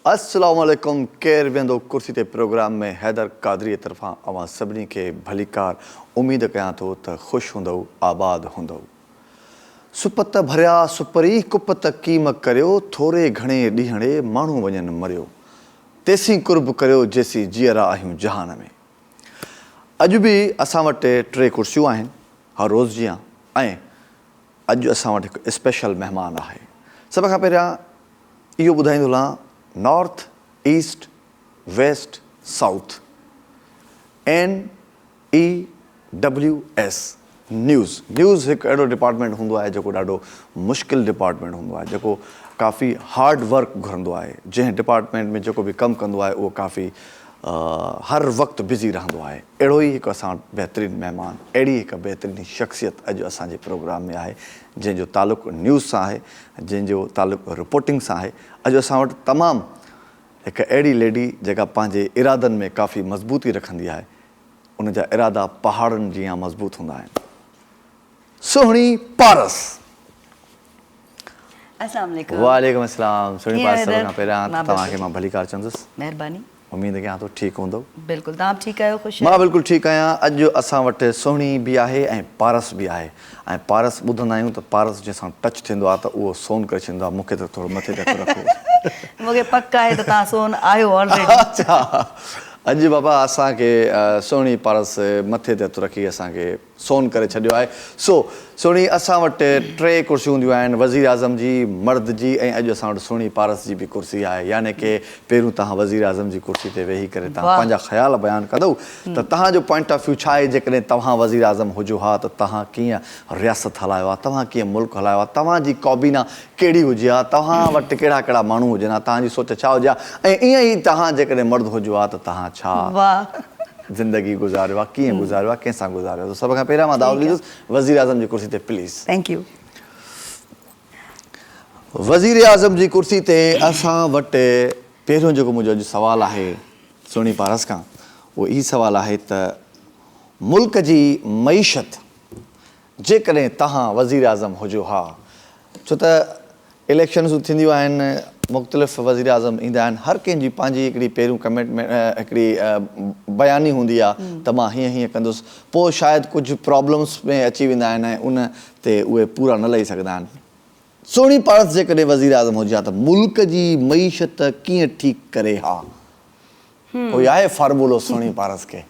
السلام عليڪم ڪير ويهندو ڪرسي تي پروگرام ۾ حيدر قادري طرفان اوهان سڀني کي ڀليڪار اميد ڪيان ٿو ته خوش هوندئو آباد هوندئو سپت ڀريا سپري ڪپت ڪيم ڪريو ٿوري گهڻي ڏينهڙي ماڻهو وڃن مريو تيسين قرب ڪريو جيسين جيئرا آهيون جهان ۾. اڄ به اسان وٽ ٽي ڪرسيون آهن هر روز جيان ۽ اڄ اسان وٽ هڪ اسپيشل مهمان آهي. سڀ کان پهريان اهو ٻڌائيندو هلان north east west south N E W S news, news هڪ اهڙو ڊپارٽمينٽ هوندو آهي جيڪو ڏاڍو مشڪل ڊپارٽمينٽ هوندو آهي جيڪو ڪافي هارڊ ورڪ گهرندو آهي جنهن ڊپارٽمينٽ ۾ جيڪو به ڪم ڪندو آهي اهو ڪافي هر وقت بزي رهندو آهي اهڙو ئي هڪ اسان وٽ بهترين مهمان اهڙي هڪ بهترين شخصيت اڄ اسان جي پروگرام ۾ آهي جنهن جو تعلق نيوز سان آهي جنهن جو تعلق رپورٽنگ سان آهي اڄ اسان وٽ تمام هڪ اهڙي ليڊي جيڪا پنهنجي ارادن ۾ ڪافي مضبوطي رکندي آهي ان جا ارادا پهاڙن جيان مضبوط هوندا آهن. سهڻي پارس. السلام عليڪم. وعليڪم السلام سهڻي پارس سڀ کان پهريان ته توهان کي مان ڀليڪار چوندس. مهرباني. اميد ڪيان ٿو ٺيڪ هوندؤ. بلڪل توهان به ٺيڪ آهيو خوش آهيو. مان بلڪل ٺيڪ آهيان اڄ اسان وٽ سهڻي به آهي ۽ پارس به آهي ۽ پارس ٻڌندا آهيون ته پارس جنهن سان ٽچ ٿيندو آهي ته اهو سون ڪري ڇڏيندو آهي مون کي ته ٿورو مٿي تي هٿ رکو. مون کي پڪ آهي ته توهان سون آهيو آلريڊي. اچا اڄ بابا اسان کي سهڻي پارس مٿي تي هٿ رکي اسان کي سون ڪري ڇڏيو آهي سو سهڻي اسان وٽ ٽي ڪرسيون هونديون آهن وزير اعظم جي مرد جي ۽ اڄ اسان وٽ سهڻي پارس جي به ڪرسي آهي يعني ڪي پهريون توهان وزير اعظم جي ڪرسي تي ويهي ڪري توهان پنهنجا خيال بيان ڪندؤ ته توهان جو پوائنٽ آف ويو ڇا آهي جيڪڏهن توهان وزيراعظم هجو ها ته توهان ڪيئن رياست هلايو ها توهان ڪيئن ملڪ هلايو ها توهان جي ڪابينا ڪهڙي هجي ها توهان وٽ ڪهڙا ڪهڙا ماڻهو هجن ها توهان جي سوچ ڇا هجي ها ۽ ائين ئي توهان جيڪڏهن مرد هجو ها ته توهان ڇا زندگي گذاريو ها ڪيئن گذاريو ها ڪنهن سان گذاريو ها ته سڀ کان پهريان مان دعوت ڏيندس وزيراعظم جي ڪرسي تي پليز ٿينڪ يو وزيراعظم جي ڪرسي تي اسان وٽ پهريون جيڪو منهنجو اڄ سوال آهي سهڻي پارس کان اهو ئي سوال آهي ته ملڪ جي معيشت جيڪڏهن توهان وزيراعظم هجو ها ڇو ته اليڪشنز ٿينديون آهن مختلف وزيراعظم ايندا آهن هر ڪنهن جي پنهنجي هڪڙي پهريون ڪميٽمينٽ هڪڙي بياني هوندي آهي ته مان هيئن هيئن ڪندس پوء شايد ڪجهه پرابلمز ۾ اچي ويندا آهن ۽ ان تي اهي پورا نه لهي سگهندا آهن. سهڻي پارس جيڪڏهن وزيراعظم هجي ها ته ملڪ جي معيشت ڪيئن ٺيڪ ڪري ها؟ ڪوئي آهي فارمولو سهڻي پارس کي؟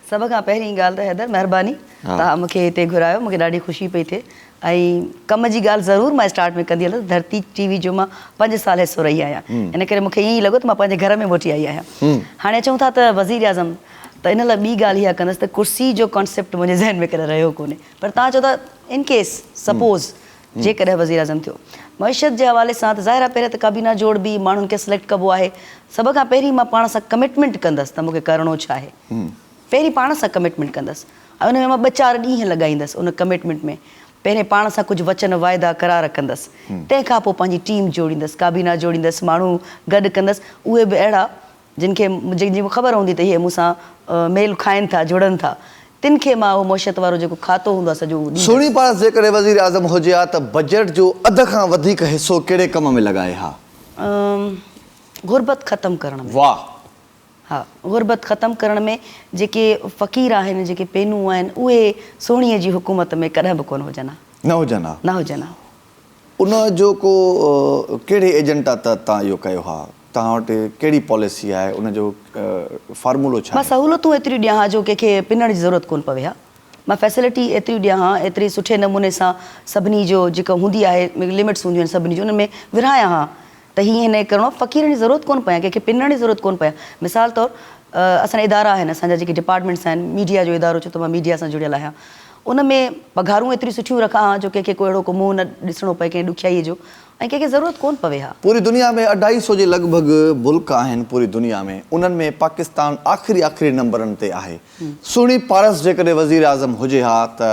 سڀ کان پهرين ڳالهه ته حيدر مهرباني توهان مون کي هتي گهرايو مون کي ڏاڍي خوشي پئي ٿئي ۽ ڪم جي ڳالهه ضرور مان اسٽارٽ ۾ ڪندي هلندس ڌرتي ٽي وي جو مان پنج سال حصو رهي آهيان ان ڪري مون کي ائين لڳو ته مان پنهنجي گهر ۾ موٽي آئي آهيان هاڻي اچون ٿا ته وزيراعظم ته ان لاء ٻي ڳالهه اها ڪندس ته ڪرسي جو ڪانسيپٽ منهنجي ذهن ۾ ڪڏهن رهيو ڪونهي پر توهان چئو ٿا ان ڪيس سپوز جيڪڏهن وزيراعظم ٿيو. معيشت جي حوالي سان ته ظاهر آهي پهريان ته ڪابينا جوڙبي، ماڻهن کي سليڪٽ ڪبو آهي. سڀ کان پهرين مان پاڻ سان ڪمٽمينٽ ڪندس ته مون کي ڪرڻو ڇا آهي. پهرين پاڻ سان ڪمٽمينٽ ڪندس ۽ ان ۾ مان ٻه چار ڏينهن لڳائيندس ان ڪمٽمينٽ ۾ پهرين پاڻ سان ڪجهه وچن واعدا قرار ڪندس تنهن کان پوء پنهنجي ٽيم جوڙيندس ڪابينا جوڙيندس ماڻهو گڏ ڪندس اهي به اهڙا جن کي جن جي مون کي خبر هوندي ته هي مون سان ميل کائن ٿا، جڙن ٿا، تن کي مان اهو معشيت وارو جيڪو کاتو هوندو آهي سڄو اهو ڏيندس. سهڻي پاڻس جيڪڏهن وزيراعظم هجي ها ته بجيٽ جو اڌ کان وڌيڪ حصو ڪهڙي ڪم ۾ لڳائي ها؟ ام غربت ختم ڪرڻ ۾. واهه. ها غربت ختم ڪرڻ ۾ جيڪي فقير آهن جيڪي پينون آهن اهي سهڻيء جي حڪومت ۾ ڪڏهن به ڪونه هجن ها. نه هجن ها. نه هجن ها. ان جو ڪو ڪهڙي ايجنڊا تحت توهان اهو ڪيو ها؟ توهان وٽ ڪهڙي پاليسي آهي؟ ان جو فارمولو ڇا مان آهي؟ سهولتون ايتريون ڏيان ها جو ڪنهن کي پنڻ جي ضرورت ڪونه پوي ها. مان فيسلٽي ايتريون ڏيان ها، ايتري سٺي نموني سان سڀني جو جيڪا هوندي آهي لمٽس هونديون آهن سڀني جون انهن ۾ ورهايان ها. ته هي هن کي ڪرڻو آهي فقيرن جي ضرورت ڪونه پيان ڪنهن کي پنڻ جي ضرورت ڪونه پيان مثال طور اسان جا ادارا آهن اسان جا جيڪي ڊپارٽمينٽس آهن ميڊيا جو ادارو چئو ته مان ميڊيا سان جڙيل آهيان ان ۾ پگهارون ايتريون سٺيون رکان ها جو ڪنهن کي ڪو اهڙو ڪو منهن نه ڏسڻو پئي ڪنهن ڏکيائيء جو ۽ ڪنهن کي ضرورت ڪونه پوي ها. پوري دنيا ۾ اڍائي سو جي لڳ ڀڳ ملڪ آهن پوري دنيا ۾ انهن ۾ پاڪستان آخري آخري نمبرن تي آهي سهڻي پارس جيڪڏهن وزير اعظم هجي ها ته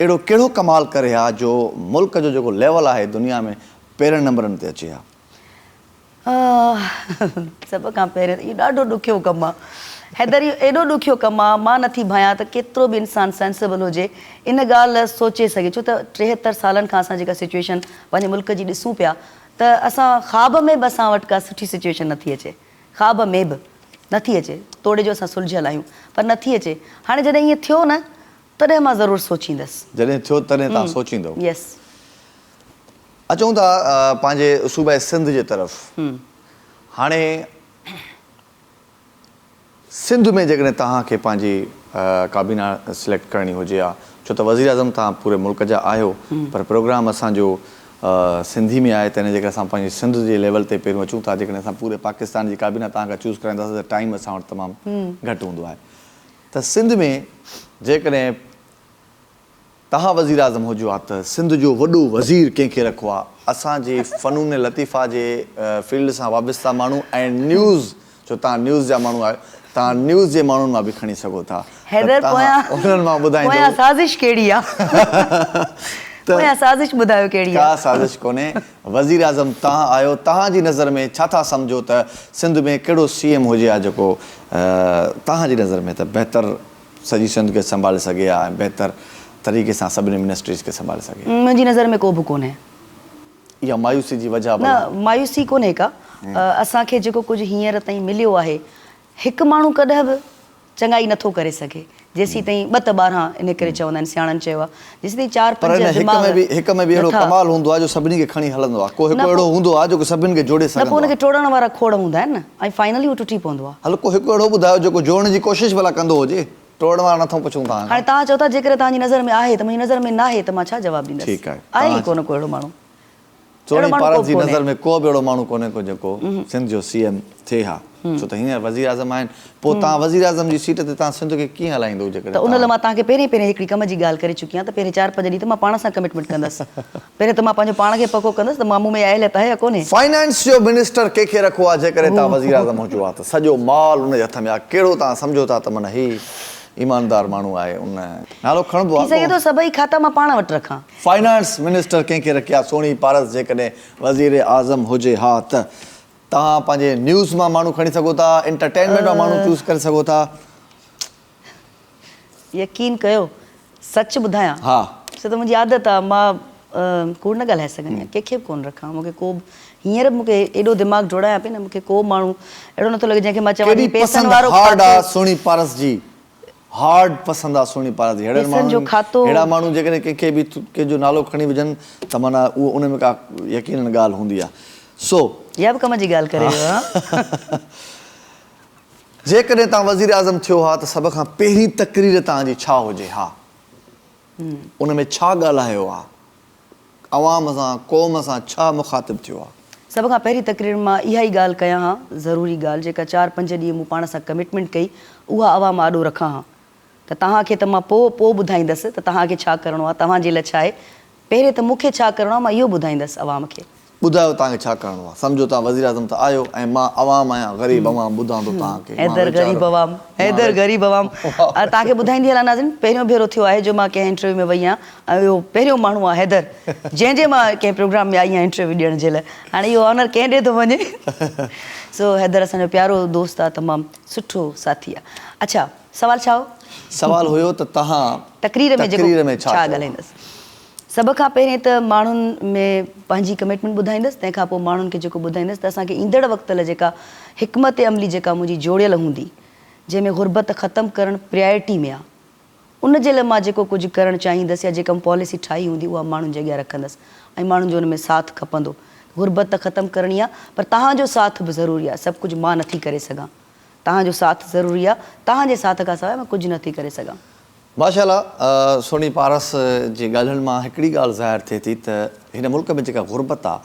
اهڙو ڪهڙو ڪمال ڪري ها جو ملڪ جو جيڪو ليول آهي دنيا ۾ پهرين نمبرن تي اچي ها. آه سڀ کان پهرين اهو ڏاڍو ڏکيو ڪم آ حيدر اهو ايڏو ڏکيو ڪم آ مان نٿي ڀانيان ته ڪيترو به انسان سينسبل هجي ان ڳالهه سوچي سگهي ڇو ته ٽيهتر سالن کان اسان جيڪا سچويشن پنهنجي ملڪ جي ڏسون پيا ته اسان خواب ۾ به اسان وٽ ڪا سٺي سچويشن نٿي اچي خواب ۾ به نٿي اچي توڙي جو اسان سلجهيل آهيون پر نٿي اچي هاڻي جڏهن ائين ٿيو نه تڏهن مان ضرور سوچيندس. جڏهن ٿيو تڏهن توهان سوچيندو. يس. اچون ٿا پنهنجي صوبه سنڌ جي طرف هاڻي سنڌ ۾ جيڪڏهن توهان کي پنهنجي ڪابينا سليڪٽ ڪرڻي هجي ها ڇو ته وزيراعظم توهان پوري ملڪ جا آهيو پر پروگرام اسان جو سنڌي ۾ آهي تنهن جي ڪري اسان پنهنجي سنڌ جي ليول تي پهريون اچون ٿا جيڪڏهن اسان پوري پاڪستان جي ڪابينا توهان کان چوز ڪرائينداسين ته ٽائيم اسان وٽ تمام گهٽ هوندو آهي ته سنڌ ۾ جيڪڏهن توهان وزيراعظم هجو ها ته سنڌ جو وڏو وزير ڪنهن کي رکو ها. اسان جي فنون لطيفه جي فيلڊ سان وابسته ماڻهو ۽ نيوز جو تان نيوز جا ماڻهو آهيو تان نيوز جي ماڻهن مان به کڻي سگهو ٿا ته تان انهن مان ٻڌائيندو. پويان سازش ڪهڙي آ؟ پويان سازش ٻڌايو ڪهڙي آ؟ ڪا سازش ڪونهي. وزيراعظم توهان آهيو توهان جي نظر ۾ ڇا ٿا سمجهو ته سنڌ ۾ ڪهڙو سي ايم هجي ها جيڪو توهان جي نظر ۾ ته بهتر سڄي سنڌ کي سنڀالي سگهي ها ۽ بهتر طريقي سان سڀني منسٽريز کي سنڀالي سگهي ها. منهنجي نظر ۾ ڪو به ڪونهي. اها مايوسي جي وجهه نه ڀلا؟ مايوسي ڪونهي ڪا. اسان کي جيڪو ڪجهه هينئر تائين مليو آهي، هڪ ماڻهو ڪڏهن به چڱائي نٿو ڪري سگهي، جيسين تائين ٻه ته ٻارهان، انهي ڪري چوندا آهن سياڻن چيو آهي. پر ان هڪ ۾ به هڪ ۾ به اهڙو ڪمال هوندو آهي جو سڀني کي کڻي هلندو آهي. ڪو هڪ اهڙو هوندو آهي جيڪو سڀني کي جوڙي سگهندو آهي. هل ڪو هڪ اهڙو ٻڌايو جيڪو جوڙڻ جي ڪوشش ڀلا ڪندو هجي. ٽوڙڻ وارا نٿون پڇون توهان کان. ٺيڪ آهي. توهان چوڻي پارت جي نظر ۾ ڪو به اهڙو ماڻهو ڪونهي ڪو جيڪو سنڌ جو سي ايم ٿئي ها ڇو ته هينئر وزيراعظم آهن پوء تان وزيراعظم جي سيٽ تي تان سنڌ کي ڪيئن هلائيندو جيڪڏهن ته ان لاء مان تان کي پهرين پهرين هڪڙي ڪم جي ڳالهه ڪري چڪي آهيان ته پهرين چار پنج ڏينهن ته مان پاڻ سان ڪمٽمينٽ ڪندس پهرين ته مان پنهنجو پاڻ کي پڪو ڪندس ته مان مون ۾ اها اهليت آهي يا ڪونهي. فائنانس جو منسٽر ڪي کي رکو ها جيڪڏهن تان وزيراعظم هجو ها ته سڄو مال ان جي هٿ ۾ ها ڪهڙو تان سمجهو ٿا ته من هي ايماندار ماڻهو آهي ان نالو کڻبو ها ٿي سگهي ٿو سڀئي کاتا مان پاڻ وٽ رکان. فنانس منسٽر ڪنهن کي رکيا سهڻي پارس جيڪڏهن وزيراعظم هجي ها ته توهان پنهنجي نيوز مان ماڻهو کڻي سگهو ٿا انٽرٽينمينٽ مان ماڻهو چوز ڪري سگهو ٿا. يقين ڪيو سچ ٻڌايان سو ته منهنجي عادت آ مان ڪوڙ نه ڳالهائي سگهندي آهيان ڪنهن کي به ڪونه رکان مون کي ڪو به هينئر به مون کي ايڏو دماغ ڊوڙايان پئي نه مون کي ڪو به ماڻهو اهڙو نٿو لڳي جنهن کي مان چوان ٿي پئسن وارو کاتو. ڪيڏي پسند هارڊ آ سهڻي پارس جي. هارڊ پسند آ سهڻي پارت جي ههڙن ماڻهن ههڙا ماڻهو جيڪڏهن ڪنهن کي به ڪنهن جو نالو کڻي وجهن ته معنيٰ اهو ان ۾ ڪا يقينن ڳالهه هوندي آ سو يا به ڪم جي ڳالهه ڪري رهيو آ. جيڪڏهن توهان وزير اعظم ٿيو ها ته سڀ کان پهرين تقرير توهان جي ڇا هجي ها ان ۾ ڇا ڳالهايو آ عوام سان قوم سان ڇا مخاطب ٿيو آ؟ سڀ کان پهرين تقرير مان اها ئي ڳالهه ڪيان ها، ضروري ڳالهه جيڪا چار پنج ڏينهن مون پاڻ سان ڪمٽمينٽ ڪئي اها عوام آڏو رکان ها ته توهان کي ته مان پوء پوء ٻڌائيندس ته توهان کي ڇا ڪرڻو آ توهان جي لاء ڇا آهي پهرين ته مون کي ڇا ڪرڻو آ مان اهو ٻڌائيندس عوام کي. ٻڌايو توهان کي ڇا ڪرڻو آهي سمجهو توهان وزيراعظم ته آهيو ۽ مان عوام آهيان غريب عوام ٻڌان ٿو توهان کي حيدر غريب عوام حيدر غريب عوام توهان کي ٻڌائيندي هلان ناظرين پهريون ڀيرو ٿيو آهي جو مان ڪنهن انٽرويو ۾ وئي آهيان ۽ اهو پهريون ماڻهو آهي حيدر جنهن جي مان ڪنهن پروگرام ۾ آئي آهيان انٽرويو ڏيڻ جي لاء هاڻي اهو آنر ڪنهن ڏي ٿو وڃي سو حيدر اسان جو پيارو دوست آهي تمام سٺو ساٿي آهي اڇا سوال ڇا هو؟ سوال هيو ته توهان تقرير ۾ ڇا ڳالهائيندس. سڀ کان پهرين ته ماڻهن ۾ پنهنجي ڪمٽمينٽ ٻڌائيندس تنهن کان پوء ماڻهن کي جيڪو ٻڌائيندس ته اسان کي ايندڙ وقت لاء جيڪا حڪمت عملي جيڪا منهنجي جوڙيل هوندي جنهن ۾ غربت ختم ڪرڻ پريارٽي ۾ آ ان جي لاء مان جيڪو ڪجهه ڪرڻ چاهيندس يا جيڪا مون پاليسي ٺاهي هوندي اها ماڻهن جي اڳيان رکندس ۽ ماڻهن جو ان ۾ ساٿ کپندو غربت ته ختم ڪرڻي آ پر توهان جو ساٿ به ضروري آ سڀ ڪجهه مان نٿي ڪري سگهان. توهان جو ساٿ ضروري آ توهان جي ساٿ کان سواء مان ڪجهه نه ٿي ڪري سگهان. ماشاء الله سهڻي پارس جي ڳالهين مان هڪڙي ڳالهه ظاهر ٿئي ٿي ته هن ملڪ ۾ جيڪا غربت آ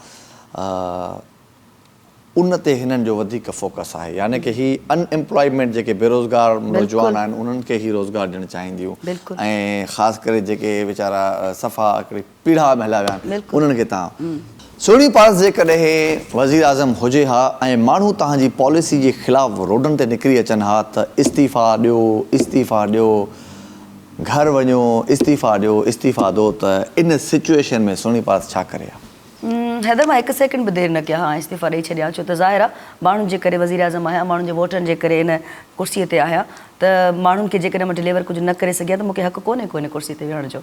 ان تي هنن جو وڌيڪ فوڪس آهي يعني ڪه هي ان ايمپلائيمينٽ جيڪي بيروزگار نوجوان آهن انهن کي هي روزگار ڏيڻ چاهينديون ۽ خاص ڪري جيڪي ويچارا صفا هڪڙي پيڙها ۾ هليا ويا آهن انهن کي تان سهڻي پاڻس جيڪڏهن وزيراعظم هجي ها ۽ ماڻهو تان جي پاليسي جي خلاف روڊن تي نڪري اچن ها ته استعيفا ڏيو استعيفا ڏيو گهر وڃو استعيفا ڏيو استعيفا دو ته ان سچوئيشن ۾ سهڻي پاڻس ڇا ڪري ها. حيدر مان هڪ سيڪنڊ به دير نه ڪيا ها ۽ استعيفا ڏئي ڇڏيا ها ڇو ته ظاهر آهي ماڻهن جي ڪري وزيراعظم آهيان ماڻهن جي ووٽن جي ڪري ان ڪرسي تي آهيان ته ماڻهن کي جيڪڏهن مان ڊليور ڪجهه نه ڪري سگهيا ته مون کي حق ڪونهي ڪو ان ڪرسي تي ويهڻ جو.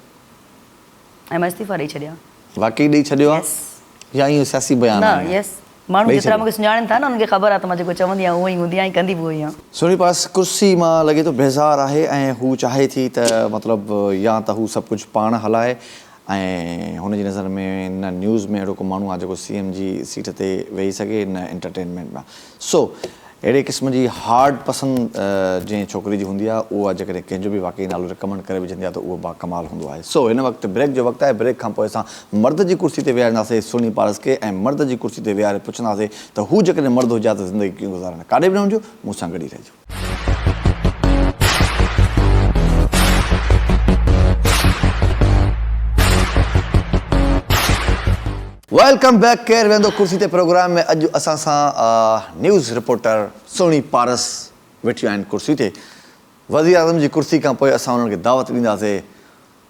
۽ مان استعيفا ڏئي ڇڏيان. واقعي ڏئي ڇڏيو آ يا ايئن اهو سياسي بيان آهي؟ نه يس ماڻهو جيترا مونکي سڃاڻن ٿا نه انهن کي خبر آ ته مان جيڪو چوندي آهيان اهو ئي هوندي آهيان ۽ ڪندي به اهو ئي آهيان. سهڻي پاس ڪرسي مان لڳي ٿو بيزار آهي ۽ هو چاهي ٿي ته مطلب يا ته هو سڀ ڪجهه پاڻ هلائي ۽ هن جي نظر ۾ نه نيوز ۾ اهڙو ڪو ماڻهو آهي جيڪو سي ايم جي سيٽ تي ويهي سگهي نه انٽرٽينمينٽ ۾ سو اهڙي قسم جي هارڊ پسند جنهن ڇوڪري جي هوندي آهي اها جيڪڏهن ڪنهن جو به واقعي نالو ريڪمنڊ ڪري وجهندي آهي ته اهو با ڪمال هوندو آهي. سو هن وقت بريڪ جو وقت آهي بريڪ کان پوء اسان مرد جي ڪرسي تي ويهارينداسين سهڻي پارس کي ۽ مرد جي ڪرسي تي ويهاري پڇنداسين ته هو جيڪڏهن مرد هجي ها ته زندگي ڪيئن گذارڻ ڪاڏي به نه وڃجو مون سان گڏ ئي رهجو. ويلڪم بيڪ ڪير ويهندو ڪرسي تي پروگرام ۾ اڄ اسان سان نيوز رپورٽر سهڻي پارس ويٺيون آهن ڪرسي تي وزيراعظم جي ڪرسي کان پوء اسان انهن کي دعوت ڏينداسين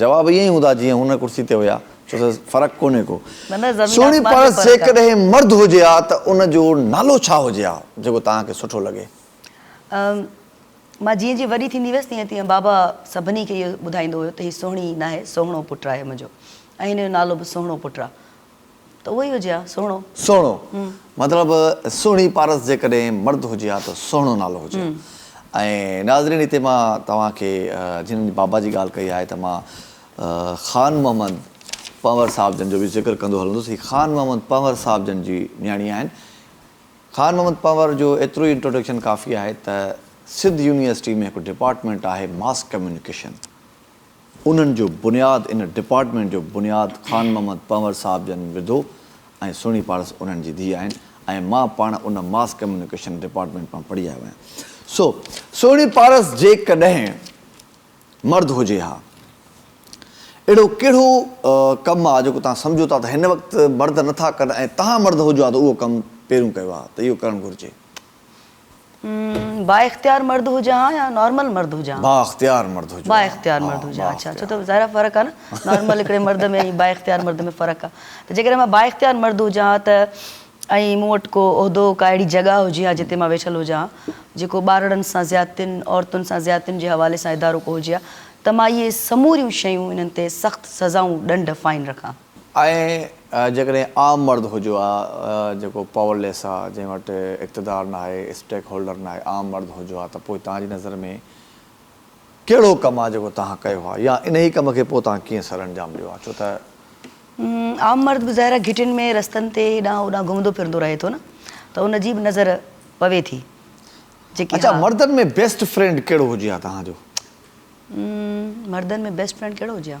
جواب ائين ئي هوندا جيئن هن ڪرسي تي هيا ڇو ته فرق ڪونهي ڪو. سهڻي پر جيڪڏهن مرد هجي ها ته ان جو نالو ڇا هجي ها جيڪو توهان کي سٺو لڳي؟ مان جيئن جيئن وڏي ٿيندي ويس تيئن تيئن بابا سڀني کي اهو ٻڌائيندو هيو ته هي سهڻي ناهي سهڻو پٽ آهي منهنجو ۽ هن جو نالو به سهڻو پٽ آ. ته اهو ئي هجي ها، سهڻو. سهڻو، مطلب سهڻي پارس جيڪڏهن مرد هجي ها ته سهڻو نالو هجي ها. ۽ ناظرين هتي مان توهان کي جن بابا جي ڳالهه ڪئي آهي ته مان خان محمد پنهور صاحب جن جو به ذڪر ڪندو هلندس. هي خان محمد پنهور صاحب جن جي نياڻي آهن. خان محمد پنهور جو ايترو ئي انٽروڊڪشن ڪافي آهي ته سڌ يونيورسٽي ۾ هڪ ڊپارٽمينٽ آهي ماس ڪميونيڪيشن. انهن جو بنياد ان ڊپارٽمينٽ جو بنياد خان محمد پنهور صاحب جن وڌو ۽ سهڻي پارس انهن جي ڌيء آهن ۽ مان پاڻ ان ماس ڪميونيڪيشن ڊپارٽمينٽ مان پڙهي آيو آهيان سو سهڻي پارس جيڪڏهن مرد هجي ها اهڙو ڪهڙو ڪم آ جيڪو توهان سمجهو ٿا ته هن وقت مرد نٿا ڪن ۽ توهان مرد هجو ها ته اهو ڪم پهريون ڪيو ها ته اهو ڪرڻ گهرجي. بااختيار مرد هجان ها يا نارمل مرد هجان ها. بااختيار مرد هجان ها. بااختيار مرد هجان ها. اڇا اڇا ته ظاهر آهي فرق آهي نه نارمل هڪڙي مرد ۾ ۽ بااختيار مرد ۾ فرق آهي ته جيڪڏهن مان بااختيار مرد هجان ها ته ۽ مون وٽ ڪو عهدو ڪا اهڙي جڳهه هجي ها جتي مان ويٺل هجان ها جيڪو ٻارڙن سان زيادتين عورتن سان زيادتين جي حوالي سان ادارو ڪو هجي ها ته مان اهي سموريون شيون انهن تي سخت سزائون ڏنڊ فائن رکان ها. ائين جيڪڏهن عام مرد هجيو ها جيڪو پاور ليس آ جنهن وٽ اقتدار ناهي اسٽيڪ هولڊر ناهي عام مرد هجيو ها ته پوء توهان جي نظر ۾ ڪهڙو ڪم آ جيڪو توهان ڪيو ها يا انهي ڪم کي پوء توهان ڪيئن سر انجام ڏيو ها ڇو ته. عام مرد به ظاهر آ گهٽين ۾ رستن تي هيڏانهن هوڏانهن گهمندو ڦرندو رهي ٿو نه ته ان جي به نظر پوي ٿي جيڪي اڇا مردن ۾ بيسٽ فرينڊ ڪهڙو هجي ها توهان جو. مردن ۾ بيسٽ فرينڊ ڪهڙو هجي ها.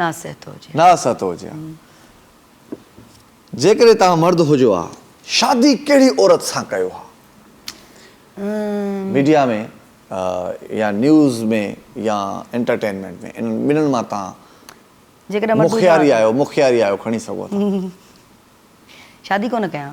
ناصحت هجي. ناصحت هجي ها. جيڪڏهن توهان مرد هجو ها شادي ڪهڙي عورت سان ڪيو ها. ميڊيا ۾ يا نيوز ۾ يا انٽرٽينمينٽ ۾ انهن ٻنهن مان توهان جيڪڏهن مرد هجو ها ته. مخياري آهيو مخياري آهيو کڻي سگهو ٿا. شادي ڪونه ڪيان.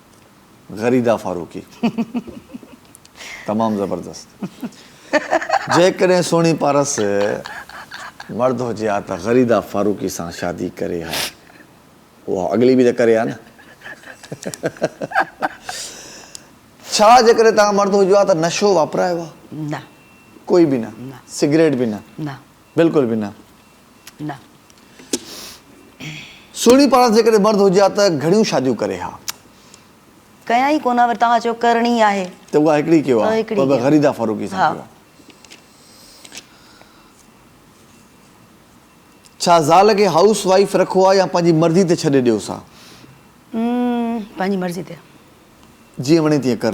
غريده فاروقي تمام زبردست جيڪڏهن سهڻي پارس مرد هجي ها ته غريده فاروقي سان شادي ڪري ها اها اڳلي به ته ڪري ها نه ڇا جيڪڏهن توهان مرد هجو ها ته نشو واپرايو ها نه ڪوئي به نه سگريٽ به نه نه بلڪل به نه. نه. سهڻي پاڻس جيڪڏهن مرد هجي ها ته گهڻيون شاديون ڪري ها. ڪيا ئي ڪونه ها وري توهان چئو ڪرڻي آهي. ته اها هڪڙي ڪيو ها پر به غريده فاروقي سان ڪيو ها. ڇا زال کي هائوس وائيف رکو ها يا پنهنجي مرضي تي ڇڏي ڏيوس ها. م پنهنجي مرضي تي. جيئن وڻي تيئن ڪر.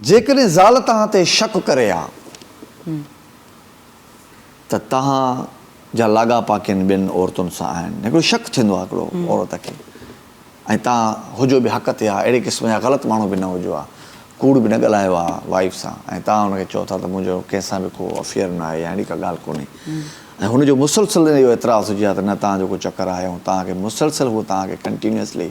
جيڪڏهن زال توهان تي شڪ ڪري ها ته توهان جا لاڳاپا ڪن ٻين عورتن سان آهن. هڪڙو شڪ ٿيندو آهي هڪڙو عورت کي ۽ توهان هجو به حق تي ها اهڙي قسم جا غلط ماڻهو به نه هجو ها ڪوڙ به نه ڳالهايو ها وائيف سان ۽ توهان هن کي چئو ٿا ته منهنجو ڪنهن سان به ڪو افيئر نه آهي يا اهڙي ڪا ڳالهه ڪونهي ۽ هن جو مسلسل اهو اعتراض هجي ها ته نه توهان جو ڪو چڪر آهي ۽ توهان کي مسلسل هو توهان کي ڪنٽينيوسلي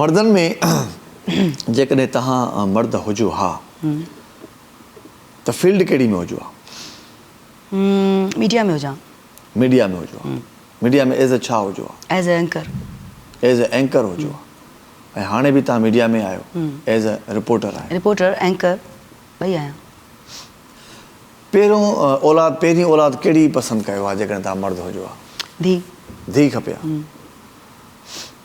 مردن ۾ جيڪڏهن توهان مرد هجو ها ته فيلڊ ڪهڙي ۾ هجو ها؟ ميڊيا ۾ هجان ها. ميڊيا ۾ هجو ها. ميڊيا ۾ ايز اي ڇا هجو ها؟ As a anchor. As a anchor هجو ها. ۽ هاڻي به توهان ميڊيا ۾ آهيو. ايز اي رپورٽر آهيو. رپورٽر، اينڪر ٻئي آهيان. پهريون اولاد، پهرين اولاد ڪهڙي پسند ڪيو ها جيڪڏهن توهان مرد هجو ها؟ ڌيء. ڌيء کپي ها.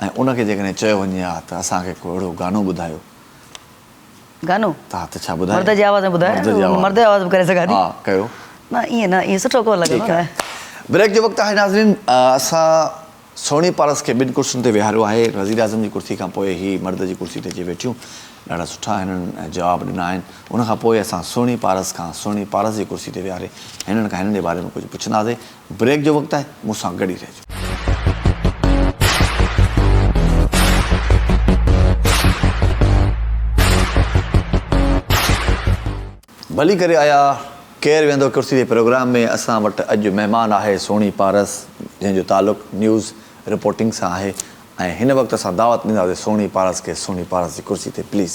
۽ ان کي جيڪڏهن چيو وڃي ها ته اسان کي ڪو اهڙو گانو ٻڌايو. گانو؟ ها ته ڇا ٻڌايو؟ مرد جي آواز ۾ ٻڌايو مرد جي آواز. مرد جي آواز ۾ ڪري سگهان ٿي. ها ڪيو. نه ائين نه ائين سٺو ڪونه لڳندو ٺيڪ آهي. بريڪ جو وقت آهي ناظرين اسان سهڻي پارس کي ٻن ڪرسين تي ويهاريو آهي وزيراعظم جي ڪرسي کان پوء هي مرد جي ڪرسي تي اچي ويٺيون ڏاڍا سٺا هنن جواب ڏنا آهن ان کان پوء اسان سهڻي پارس کان سهڻي پارس جي ڪرسي تي ويهاري هنن کان هنن جي باري ۾ ڪجهه پڇنداسي بريڪ جو وقت آهي مون سان گڏ ئي رهجو. ڀلي ڪري آيا ڪير ويهندو ڪرسي تي پروگرام ۾ اسان وٽ اڄ مهمان آهي سهڻي پارس جنهن جو تعلق نيوز رپورٽنگ سان آهي ۽ هن وقت اسان دعوت ڏينداسي سهڻي پارس کي سهڻي پارس جي ڪرسي تي پليز.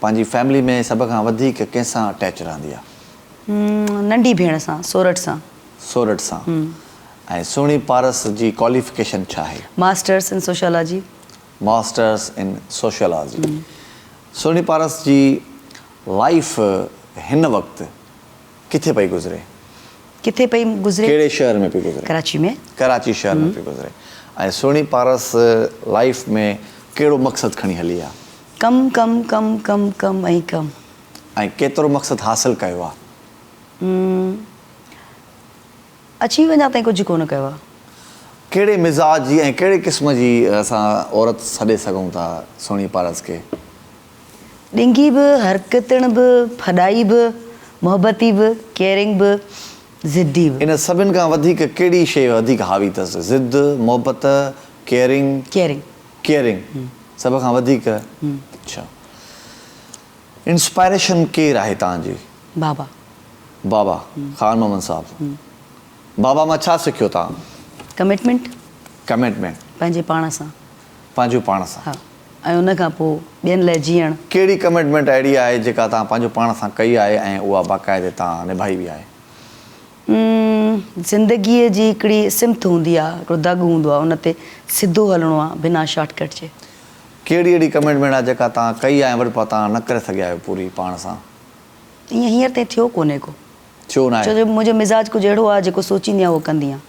پنهنجي فيملي ۾ سڀ کان وڌيڪ ڪنهن سان اٽيچ رهندي آ؟ ننڍي ڀيڻ سان سورٺ سان. سورٺ سان ۽ سهڻي پارس جي ڪواليفڪيشن ڇا آهي؟ Masters in sociology. Masters in sociology. Sohni Paras جي لائيف هن وقت ڪٿي پئي گذري؟ ڪٿي پئي گذري؟ ڪهڙي شهر ۾ پئي گذري؟ ڪراچي ۾. ڪراچي شهر ۾ پئي گذري ۽ سهڻي پارس لائيف ۾ ڪهڙو مقصد کڻي هلي آ؟ ڪم ڪم ڪم ڪم ڪم ۽ ڪم. ۽ ڪيترو مقصد حاصل ڪيو آ؟ م اچي وڃان تائين ڪجهه ڪونه ڪيو آ. ڪهڙي مزاج جي ۽ ڪهڙي قسم جي اسان عورت سڏي سگهون ٿا سهڻي پارس کي؟ ڏنگي به، حرڪتڻ به، ڦڏائي به، محبتي به، ڪيئرنگ به، ضدي به. ان سڀن کان وڌيڪ ڪهڙي شيء وڌيڪ حاوي اٿس؟ ضد، محبت، ڪيئرنگ. ڪيئرنگ. ڪيئرنگ سڀ کان وڌيڪ اچھا انسپائريشن ڪير آھي تنهن جي؟ بابا. بابا خان محمد صاحب بابا مان ڇا سکيو تنهن؟ ڪمٽمينٽ. ڪمٽمينٽ. پنهنجي پاڻ سان. پنهنجو پاڻ سان. ها ۽ ان کان پوء ٻين لاء جيئڻ. ڪهڙي ڪمٽمينٽ اهڙي آهي جيڪا تنهن پنهنجو پاڻ سان ڪئي آهي ۽ اها باقاعدي تنهن نڀائي به آهي؟ زندگيء جي هڪڙي سمت هوندي آهي، هڪڙو دڳ هوندو آهي، ان تي سڌو هلڻو آهي، بنا شارٽ ڪٽ جي. ڪهڙي اهڙي ڪمٽمينٽ آهي جيڪا توهان ڪئي آهي ۽ وري پوء توهان نه ڪري سگهيا آهيو پوري پاڻ سان؟ ائين هينئر تائين ٿيو ڪونهي ڪو. ٿيو ناهي. ڇو جو منهنجو مزاج ڪجهه اهڙو آهي جيڪو سوچيندي آهيان اهو ڪندي آهيان.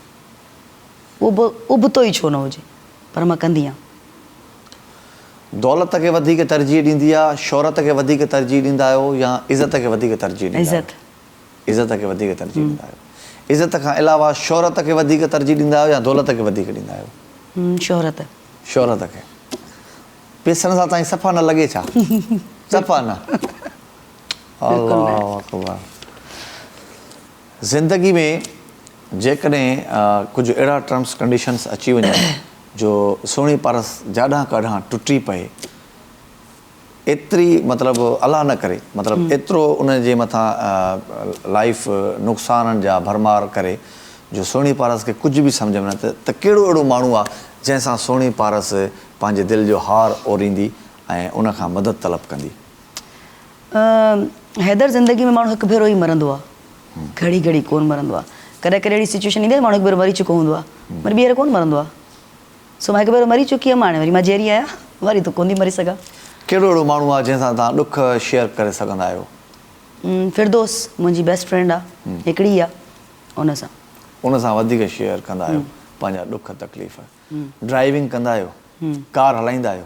اهو به ابتو ئي ڇو نه هجي پر مان ڪندي آهيان. دولت کي وڌيڪ ترجيح ڏيندي آهي، شهرت کي وڌيڪ ترجيح ڏيندا آهيو يا عزت کي وڌيڪ ترجيح ڏيندا آهيو؟ عزت. عزت کي وڌيڪ ترجيح ڏيندا آهيو. عزت کان علاوه شهرت کي وڌيڪ ترجيح ڏيندا آهيو يا دولت کي وڌيڪ ڏيندا آهيو؟ شهرت. شهرت کي. پيسن سان تائين صفا نه لڳي ڇا؟ صفا نه. الله اڪبر. زندگي ۾ جيڪڏهن ڪجهه اهڙا ٽرمس ڪنڊيشنس اچي وڃن جو سهڻي پارس جاڏان ڪاڏان ٽٽي پئي ايتري مطلب الله نه ڪري مطلب ايترو ان جي مٿان لائيف نقصانن جا ڀرمار ڪري جو سهڻي پارس کي ڪجهه به سمجهه ۾ نه اچي ته ڪهڙو اهڙو ماڻهو آ جنهن سان سهڻي پارس پنهنجي دل جو هار اوريندي ۽ ان کان مدد طلب ڪندي. حيدر زندگي ۾ ماڻهو هڪ ڀيرو ئي مرندو آ گهڙي گهڙي ڪون مرندو آ ڪڏهن ڪڏهن اهڙي سچويشن ايندي آ ماڻهو هڪ ڀيرو مري چڪو هوندو آ وري ٻيهر ڪون مرندو آ. سو مان هڪ ڀيرو مري چڪي هيم هاڻي وري مان جيئري آهيان وري ته ڪونٿي مري سگهان. ڪهڙو اهڙو ماڻهو آهي جنهن سان توهان ڏک شيئر ڪري سگهندا آهيو؟ فردوس منهنجي بيسٽ فرينڊ آ هڪڙي ئي آ ان سان. ان سان وڌيڪ شيئر ڪندا آهيو پنهنجا ڏک تڪليف. ڊرائيونگ ڪندا آهيو؟ ڪار هلائيندا آهيو؟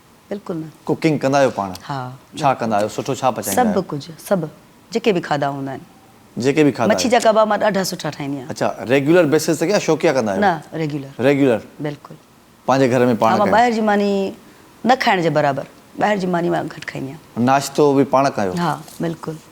بلڪل نه. ڪوڪنگ ڪندا آهيو پاڻ؟ ها. ڇا ڪندا آهيو سٺو ڇا پچائيندا آهيو؟ سڀ ڪجهه سڀ جيڪي به کاڌا هوندا آهن. جيڪي به کاڌا. مڇي جا ڪباب مان ڏاڍا سٺا ٺاهيندي آهيان. اڇا ريگيولر بيسز تي يا شوقيا ڪندا آهيو؟ نه ريگيولر. ريگيولر. بلڪل. پنهنجي گهر ۾ پاڻ. ها مان ٻاهر جي ماني نه کائڻ جي برابر ٻاهر جي ماني مان گهٽ کائيندي آهيان. ناشتو به پاڻ ڪيو. ها بلڪل.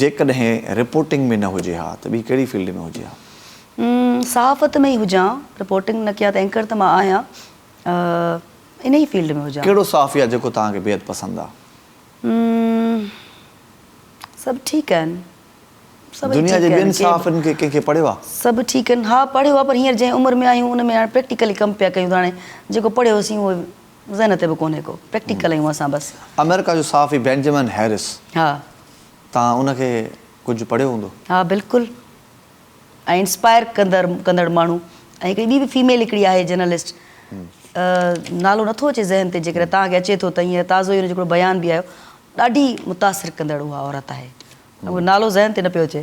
جيڪڏهن رپورٽنگ ۾ نه هجي ها ته ٻي ڪهڙي فيلڊ ۾ هجي ها؟ صحافت ۾ ئي هجان، رپورٽنگ نه ڪيان ته اينڪر ته مان آهيان، انهي فيلڊ ۾ هجان. ڪهڙو صحافي آهي جيڪو توهان کي بيحد پسند آهي؟ سڀ ٺيڪ آهن، سڀئي ٺيڪ آهن. دنيا جي ٻين صحافين کي ڪنهن کي پڙهيو آهي؟ سڀ ٺيڪ آهن، ها پڙهيو آهي پر هينئر جنهن عمر ۾ آهيون ان ۾ هاڻي پريڪٽيڪلي ڪم پيا ڪيون ته هاڻي جيڪو پڙهيوسين اهو ذهن تي به ڪونهي ڪو پريڪٽيڪل آهيون اسان بس. آمريڪا جو صحافي بينجمن هيرس ها. توهان ان کي ڪجهه پڙهيو هوندو. ها بلڪل ۽ انسپائر ڪندر ڪندڙ ماڻهو ۽ هڪڙي ٻي به فيميل هڪڙي آهي جرنلسٽ نالو نٿو اچي ذهن تي جيڪڏهن توهان کي اچي ٿو ته هينئر تازو ئي ان جو هڪڙو بيان به آيو ڏاڍي متاثر ڪندڙ اها عورت آهي نالو ذهن تي نه پيو اچي.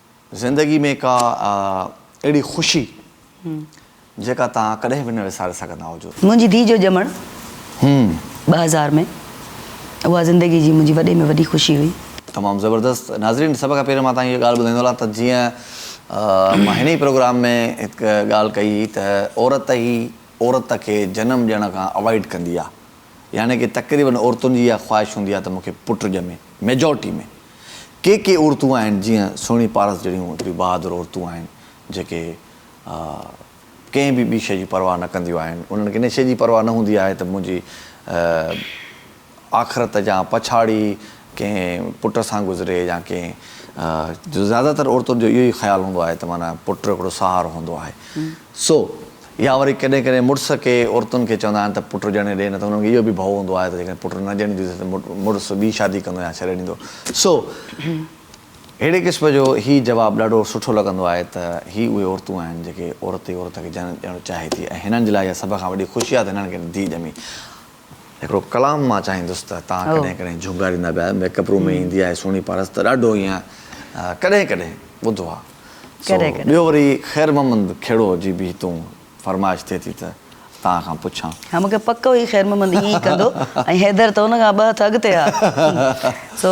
زندگي ۾ ڪا اهڙي خوشي جيڪا توهان ڪڏهن به نه وساري سگهندا هجو؟ منهنجي ڌيء جو ڄمڻ ٻه هزار ۾ اها زندگي جي منهنجي وڏي ۾ وڏي خوشي هئي. تمام زبردست ناظرين سڀ کان پهريون مان توهان کي اها ڳالهه ٻڌائيندو هلان ته جيئن مان هن ئي پروگرام ۾ هڪ ڳالهه ڪئي هئي ته عورت ئي عورت کي جنم ڏيڻ کان اوائڊ ڪندي آهي يعني ڪي تقريبن عورتن جي اها خواهش هوندي آهي ته مون کي پٽ ڄمي ميجارٽي ۾. ڪي ڪي عورتون آهن جيئن سهڻي پارس جهڙيون ايتريون بهادر عورتون آهن جيڪي ڪنهن به ٻي شيء جي پرواهه نه ڪنديون آهن انهن کي ان شيء جي پرواهه نه هوندي آهي ته منهنجي آخرت جا پڇاڙي ڪنهن پٽ سان گذري يا ڪنهن جو زياده تر عورتن جو اهو ئي خيال هوندو آهي ته معنيٰ پٽ هڪڙو سهارو هوندو آهي سو يا وري ڪڏهن ڪڏهن مڙس ڪي عورتن کي چوندا آهن ته پٽ ڄڻي ڏي نه ته انهن کي اهو به ڀئو هوندو آهي ته جيڪڏهن پٽ نه ڄڻي ڏينديس ته مڙس ٻي شادي ڪندو يا ڇڏي ڏيندو. سو اهڙي قسم جو هي جواب ڏاڍو سٺو لڳندو آهي ته هي اهي عورتون آهن جيڪي عورت ئي عورت کي ڄڻڻ چاهي ٿي ۽ هنن جي لاء اها سڀ کان وڏي خوشي آهي ته هنن کي ڌيء ڄمي. هڪڙو ڪلام مان چاهيندس ته توهان ڪڏهن ڪڏهن جهونگاريندا به آهيو ميڪ اپ روم ۾ ايندي آهي سهڻي پارس ته ڏاڍو ايئن ڪڏهن ڪڏهن ٻڌو آهي سو ٻيو وري خير محمد کهڙو جي به هتون فرمائش ٿئي ٿي ته توهان کان پڇان. ها مونکي پڪ هئي خير محمد ايئن ئي ڪندو ۽ حيدر ته ان کان ٻه هٿ اڳتي آهي سو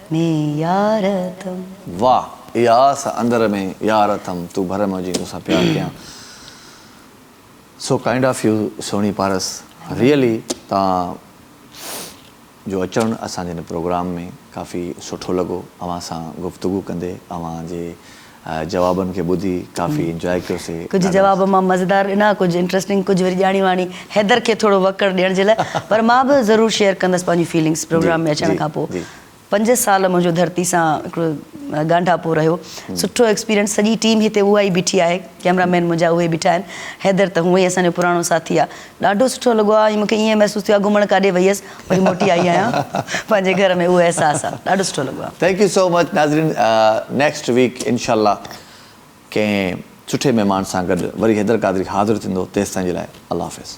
۾ يار تم. واھ اي آس اندر ۾ يار تم تون ڀرم ھجين توسان پيار ڪيان سو ڪائنڊ آف يو سھڻي پارس ريئلي توھان جو اچڻ اسان جي ھن پروگرام ۾ ڪافي سٺو لڳو اوھان سان گفتگو ڪندي اوھان جي جوابن کي ٻڌي ڪافي انجواء ڪيوسي. ڪجهه جواب مان مزيدار ڏنا ڪجهه انٽرسٽنگ ڪجهه وري ڄاڻي واڻي حيدر کي ٿورو وڪڙ ڏيڻ جي لاء پر مان به ضرور شيئر ڪندس پنهنجون فيلنگس پروگرام ۾ اچڻ کان پوء پنج سال منهنجو ڌرتي سان هڪڙو ڳانڍاپو رهيو سٺو ايڪسپيرينس سڄي ٽيم هتي اها ئي بيٺي آهي ڪيمرا مين منهنجا اهي بيٺا آهن حيدر ته هونئن ئي اسان جو پراڻو ساٿي آهي ڏاڍو سٺو لڳو آ ۽ مون کي ائين محسوس ٿيو آ گهمڻ ڪاڏي وئي هيس وري موٽي آئي آهيان پنهنجي گهر ۾ اهو احساس آ ڏاڍو سٺو لڳو آ. ٿينڪ يو سو مچ ناظرين نيڪسٽ ويڪ انشاء الله ڪنهن سٺي مهمان سان گڏ وري حيدر قادري حاضر ٿيندو تيستائين جي لاء الله حافظ.